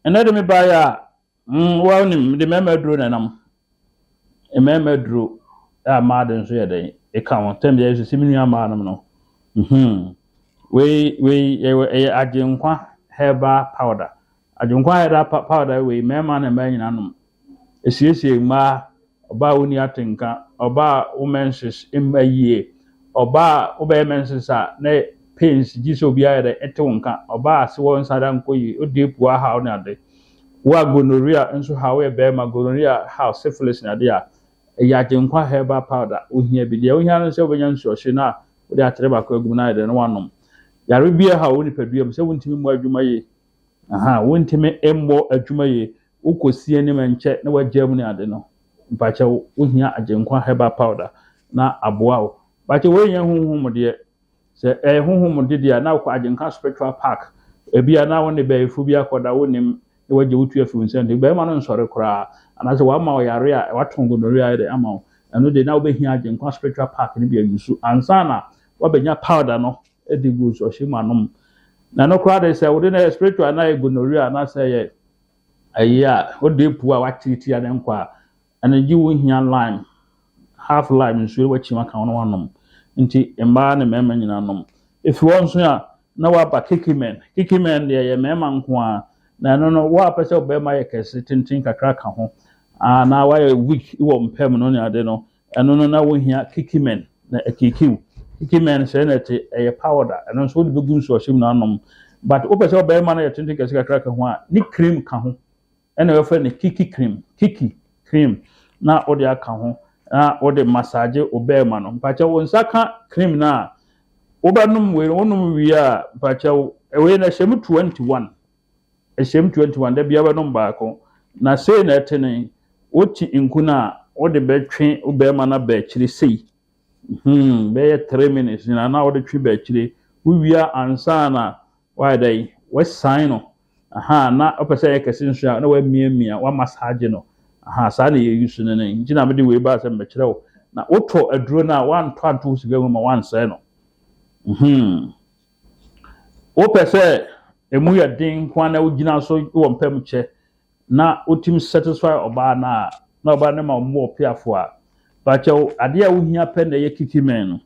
Ɛnɛ de me baeɛ a, mm, wɔn nim, mede mmarima aduro na ɛnam. Mmarima aduro a mmaa de nso yɛ dɛn? Ɛka ho. Tɛm deɛ ɛsisi me nua mmaa nom no. Mhm. Wei, wei, ɛwɔ- ɛyɛ agyenkwa herbal powder. Agyenkwa herbal pa- powder wei, mmarima ne mmaa nyinaa nom. Ɛsiesie mmaa Ɔbaa a wonni atenka, ɔbaa a wo menses mma yie, ɔbaa a wobɛyɛ menses a ne pains gye sɛ obiara yɛ dɛ ɛte wo nka, ɔbaa a se wo nsa da nkɔ yie, wo deep wo ahaw ne ade. Wo a gonorrhea nso haw wo, woyɛ barima gonorrhea haw, syphilis ne ade a, ɛyɛ Agyenkwa herbal powder wohia bi. Deɛ wohia ne sɛ wobɛnya nsuɔhye na wode atere baako agu mu na ayɛ dɛ na woanom. Yare bi a ɛhaw wo nipadua mu sɛ wontumi mmɔ adwuma yie, Aha wontumi mmɔ adwuma yie wokɔ si anim nkyɛ na wagyaa mu ne ade no mpakyɛ wo wohia agyenkwa herbal powder na aboa wo mpakyɛ wei nyɛ honhom deɛ sɛ ɛyɛ honhom de deɛ a na wokɔ agyenkwa spiritual park ebi a na wo ne bɛyifo bi akɔda wo nim na wagye wo tu afi wo nsa nti bɛrima no nsɔre koraa anaasɛ wama ɔyare a wato gonorrhea de ama wo ɛno de na wobɛhia agyenkwa spiritual park no bi ayusu ansa na wabɛnya powder no de gu ɔhyɛ mu anom na no koraa de sɛ wode no yɛ spiritual na yɛ gonorrhea anaasɛ yɛ ɛyi a wode apu a wakyere ti a ne nkɔ a ɛno gye wo hia lime half lime nsuo wakyi mu aka wo na wanom nti mmaa ne mmarima nyinaa nom efi hɔ nso a na waba kikimen kikimen deɛ yɛ mmarima nko a na ɛno no wo a pɛ sɛ ɔbarima yɛ kɛse tenten kakra ka ho anaa wayɛ weak wɔ mpam no ne ade no Ɛno no na wohia curcumin na akirikiw. Curcumin sɛɛ na ɛte, ɛyɛ powder. Ɛno nso wode bɛgu nsu ɔhyem na anom. But wopɛ sɛ ɔbarima no yɛ tenten kɛse kakra ka ho a, ne cream ka ho. Ɛna wɔfrɛ no kiki cream, kiki cream na wode aka ho na wode massage ɔbarima no. Mpakyɛ wo nsa ka cream no a, wobɛnom wei, wonom wie a, mpakyɛ wo, wei na ɛhyɛ mu 21. Ɛhyɛm 21, Da biara wobɛnom baako. Na sei na ɛte no, wote nku no a, wode bɛtwe wo barima no aba akyire sei, hmm, bɛyɛ three minutes nyinaa na wode twe ba akyire. Wowie a, ansa na woayɛ dɛn, woasian no, aha, na wopɛ sɛ ɛyɛ kɛse nso a, na woamiamia, woamasaagye no, aha, saa na yɛuse no no. Nti na mede wei baa sɛ mɛkyerɛ wo. Na wotɔ aduro no a, woantɔ anto wo sika mu ma woansɛe no. Hmm. Wopɛ sɛ emu yɛ den nko ara na wogyina so wɔ mpam kyɛ na wotumi satisfy ɔbaa no a, na ɔbaa no ma wɔn wɔ peafo a, pakyɛw adeɛ a wohia pɛ na ɛyɛ kiki mɛn no.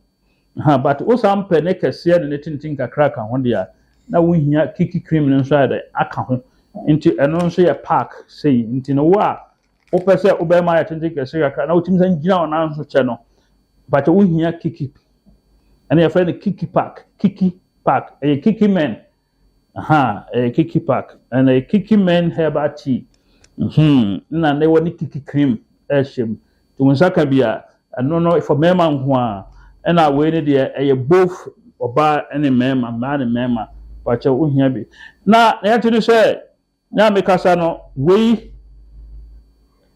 Ha, but wosan pɛ ne kɛseɛ ne ne tenten kakra ka ho deɛ a, na wohia kiki cream no nso ayɛ dɛ aka ho. Nti ɛno nso yɛ pack sei. Nti no wo a wopɛ sɛ wobɛma ayɛ tenten kɛse kakra na wotumi san gyina wo nan so kyɛ no bàtɛ wohia kiki ɛna yɛfrɛ no kiki park kiki park ɛyɛ kiki men aha ɛyɛ kiki park ɛna ɛyɛ kiki men herbal tea hmm na ne wɔ ne kiki cream ɛhyɛ mu to nsa ka bi a ɛno no for mmarima nko a ɛna wei ne deɛ ɛyɛ both ɔbaa ne mmarima mmaa ne mmarima bàtɛ wohia bi na yɛte no sɛ. Me a mekasa no, wei,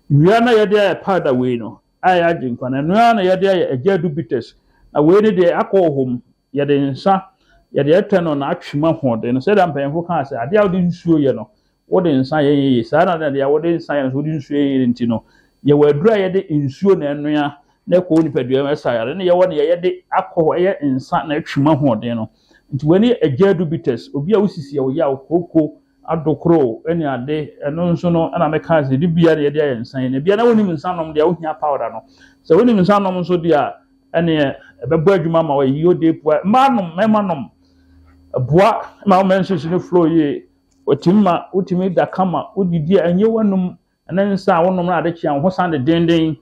wia na yɛde ayɛ powder wei no, a ɛyɛ agyenkwa no, ɛno ara na yɛde ayɛ agya adu bitters. Na wei ne deɛ akɔ wɔ hɔ mu, yɛde nsa, yɛde ɛtɛ no na atwe mu ahoɔden no. Sɛdeɛ mpanyinfo kaa sɛ, adeɛ a wode nsuo yɛ no, wode nsa yɛ yeye. Saa na na deɛ wode nsa yɛ no, so wode nsuo yɛ yeye nti no, yɛwɔ aduro a yɛde nsuo na ɛnoa na ɛkɔ wo nipadua mu ɛsa yare. Ne yɛwɔ deɛ yɛde akɔ hɔ, ɛyɛ nsa na atwe mu ahoɔden no. Nti wei ne agya dubitas, obi a wosisi a ɔyaw, kooko, adokoro ne ade. Ɛno nso no ɛna meka sɛ de bia na yɛde ayɛ nsa yi. Na bia na wonim nsa nom deɛ wohia powder no. Sɛ wonim nsa nom nso deɛ a ɛneɛ ɛbɛbɔ adwuma ma wɔyɛ yio de pua. Mmaa nom, mmarima nom. Ɛboa ma wo menses no flow yie. Wɔtumi ma wotumi da kama wodidi a ɛnyɛ w'anum ne nsa a wonom no ade kye a wo ho san de denden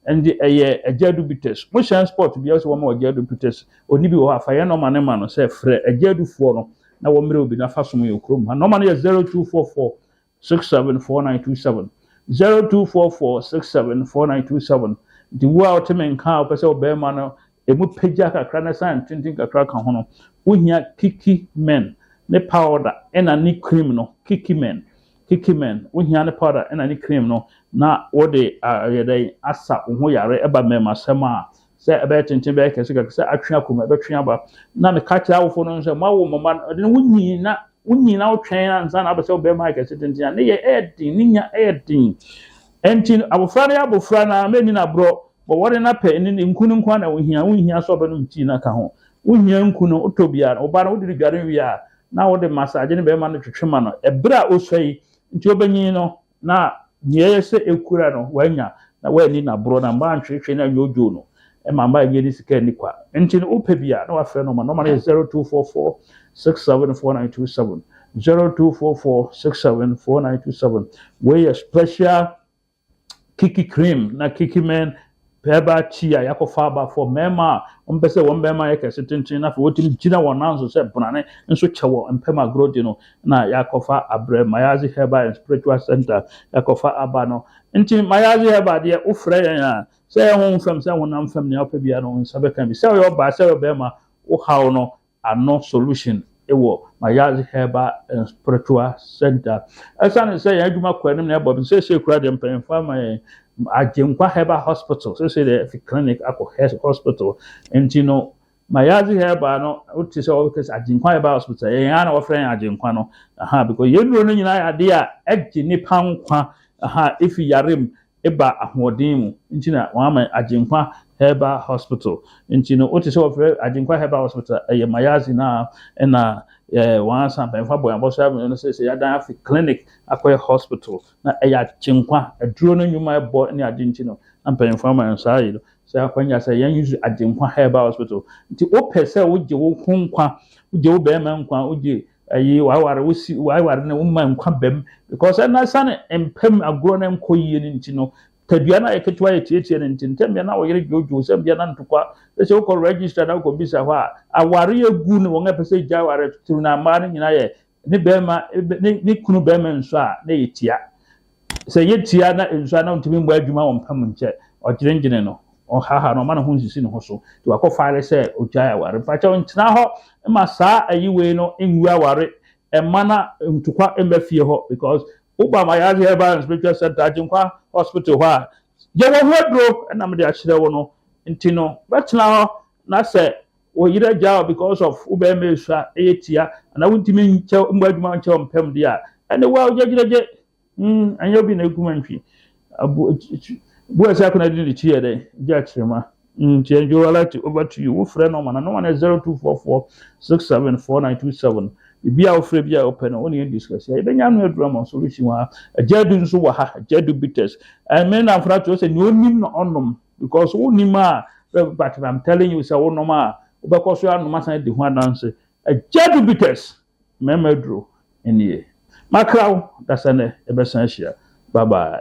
ɛnde ɛyɛ agya du bitters mo hyɛn sport bia sɛ wɔma agya du bitters oni bi wɔ hɔ afa yɛn nɔma ne ma no sɛ frɛ agya dufoɔ no na wɔmmerɛ obi na fa som yɛ okurom ha nɔma no yɛ 0244 674927 0244 674927 nti wo a wote me nka a wopɛ sɛ ɔbɛrima no Emu pagya kakra na san tenten kakra ka ho no, wohia kiki men ne powder ɛna ne cream no. Kiki men, kiki men, wohia ne powder ɛna ne cream no na wɔde ayɛ dɛn asa wo ho yare ɛba mmɛmasɛm a sɛ ɛbɛyɛ tenten bɛyɛ kɛse kakra sɛ atwe akɔ mu ɛbɛtwe aba na meka kyerɛ awofo no sɛ moawo mmɔma no ɛde no wonyin na wonyin na wotwɛn ansa na abɛsɛ wobɛma ayɛ kɛse tenten a ne yɛ ɛyɛ den ne nya ɛyɛ den ɛnti abofra no yɛ abofra na mɛni no aborɔ Wɔware no apɛ ne ne nku no nko ara na wohia. Wonhia sɛ ɔbɛnom tii no aka ho. Wohia nku no. Wotɔ bi a, wo ba no wode no dware wie a, na wode massage ne bɛrima no twetwe ma no. Bere a osua yi nti obenyin no, na nea ɛyɛ sɛ ekura no, wanya, na wanni no aborɔ, na mma antweetwee no anyɛ odwo no, ɛma mma nnye ne sika nni kwa. Enti no, wopɛ bi a, na wafrɛ nɔma. Nɔma no yɛ 0244 67 4927, 0244 67 4927. Wei yɛ special kiki cream na kiki men pɛɛba tea a yɛakɔfa aba for mmarima a wɔmpɛ sɛ wɔn mmarima yɛ kɛse tenten na afei wɔtumi gyina wɔn nan so sɛ brane nso kyɛ wɔ mpam agorɔ di no na yɛakɔfa abrɛ mayazi herbal and spiritual center yɛakɔfa aba no nti mayazi herbal deɛ wofrɛ yɛn a sɛ ɛho mfam sɛ honam fam nea wopɛ biara no nsa bɛka bi sɛ ɔyɛ ɔbaa sɛ ɔyɛ ɔbɛrima wohaw no ano solution wɔ Mayazi Herbal and Spiritual Center. Ɛsiane sɛ yɛn adwuma kɔ anim na ɛbɔ bi seesei kura deɛ mpanyinfo ama yɛn Agyenkwa Herbal Hospital seesei deɛ fi clinic akɔ hospital nti no Mayazi Herbal no wote sɛ wɔbɛka sɛ Agyenkwa Herbal Hospital yɛn ara na wɔfrɛ yɛn Agyenkwa no aha because yɛn nnuro no nyinaa yɛ adeɛ a ɛgye nipa nkwa aha efi yare mu eba ahoɔden mu nti na wɔama Agyenkwa Herbal Hospital. Nti no, wote sɛ wɔfrɛ Agyenkwa Herbal Hospital a, ɛyɛ Mayazi no a ɛna eh, wɔn ansa mpanyinfo abɔ yɛn abɔso abɛn no sɛ sɛ yɛadan afi clinic akɔyɛ hospital na ɛyɛ Agyenkwa aduro no nnwuma ɛbɔ ne ade nti no na mpanyinfo ama yɛn saa yi no sɛ akwanya sɛ yɛn use Agyenkwa Herbal Hospital. Nti wopɛ sɛ wogye wo ho nkwa, wogye wo bɛrima nkwa, wogye Ayi waware wosi waware no woma nkwa bam because ɛna sane mpam agorɔ no nkɔ yie no nti no tadua no ayɛ ketewa yɛ tietie no nti ntɛm bia na wɔyere dwoodwoo sɛ bia na ntokwa sɛ wokɔ register na wokɔ bisa hɔ a aware agu ne wɔn a ɛpɛ sɛ gya aware turu na mmaa no nyinaa yɛ ne bɛrima ne kunu bɛrima nso a na yɛ tia Sɛ yetia na nsu a na ontumi mmɔ adwuma wɔ mpa mu nkyɛ, ɔdwennwene no, ɔhaha no, ɔma ne ho nsisi ne ho so, nti wakɔ fare sɛ ogyae aware. Mpakyɛw ntena hɔ mma saa ayi wei no ngu aware mma na ntokwa mma fie hɔ because woba Mayate Herbal and Spiritual Center Agyenkwa Hospital hɔ a, yɛwɔ ho aduro na mede akyerɛ wo no, nti no bɛtena hɔ na sɛ Wo yere agyaa wo because of wo barima esu a ɛyɛ tia anaa wontumi nkyɛ mmɔ adwuma nkyɛ mpam deɛ a ɛne wo a wogyegyegye mm ɛnyɛ obi na egum ntwi abu bu ɛsɛ akɔnɔ de ne ti yɛ dɛ gye akyerɛma nti ɛnjo alert over to you wofrɛ nɔma na nɔma no yɛ zero two four four six seven four nine two seven biribi a wofrɛ bi a wopɛ no wo ne yɛn discuss a yɛbɛnya ano aduru ama solution wɔ ha agya du nso wɔ ha agya du bitters ɛmɛ na afra to sɛ nea onim na ɔnom because wonim a but i'm telling you sɛ wonom a wobɛkɔ so anom asan adi ho adanse agya du bitters mmarima aduro nie makra wo dasɛ nɛ yɛbɛsan ahyia bye bye